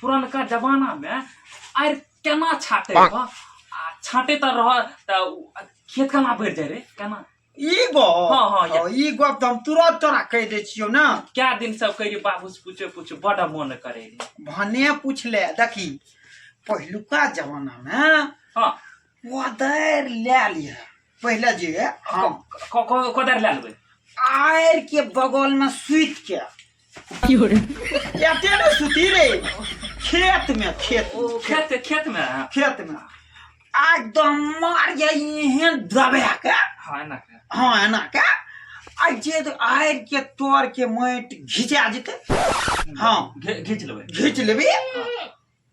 पुरनका जमाना में आर केना छाटे रह आ छाटे त रह त उ- खेत केना भरि जाय रे केना ई गो हाँ, हाँ, या। ई गप तऽ हम तुरंत तोरा कहि दै छियौ ने कए दिन सब कहि रही बाबू से पूछे पूछे बड़ा मन करे रही भने पूछले देखी पहिलुका जमाना में हाँ कोदारि लए लिअ पहिले जे हम क- क- कोदारि लए लेबै आड़ि के बगल में सुति के एते ने सुती रे खेत में खेत ओ में, खेत खेत खेतमे हँ खेत में आ एकदम मार जाए एहन दबा के हँ एना के हाँ एना के आ जे आड़ि के तोड़ के माटि घिचा जेतै हाँ घे- घीच लेबै घीच लेबी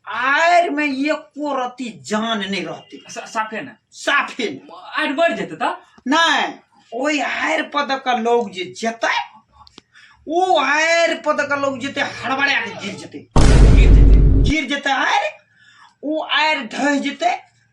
आर में एको रति जान नहि रहतै सा- साफे ने साफे नहि। आर बढ़ि जेतै तऽ नहि ओहि आयर पदक लोग जे जेतै ओ आयर पदक लोग जेतै हड़बड़ा के गिर जेतै गिर जेतै गिर जेतै आयर ओ आयर ढह जेतै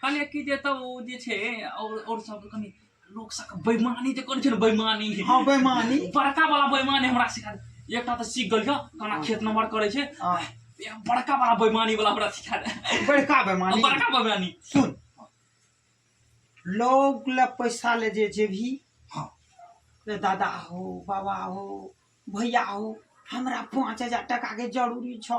कहलियै कि जे तब ओ जे छै और और सब कनि लोक सबके बेईमानी जे करै छै ने बेईमानी हाँ बेईमानी बड़का वाला बेईमानी हमरा सिखा दे। एकटा तऽ सीख गेलियो केना खेत नम्बर करै छै हाँ एक बड़का वाला बेईमानी वाला हमरा सिखा दे बड़का और बेईमानी बड़का बेईमानी सुन लोग ले पैसा ले जे जे भी हाँ रे दादा हो बाबा हो भैया हो हमरा पाँच हजार टका के जरूरी छौ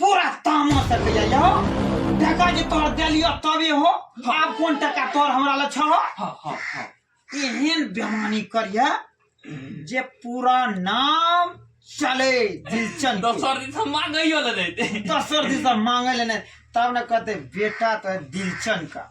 पूरा तामा से भैया यो टका जे तोर देलियो तबे हो आब कोन टका तोर हमरा ल छह हाँ हाँ हाँ एहन बेमानी करिया जे पूरा नाम चले दिलचन के। दोसर दिन से मांगैयो ले देते दोसर दिशा मांगे लेने तब न कहते बेटा तो है दिलचन का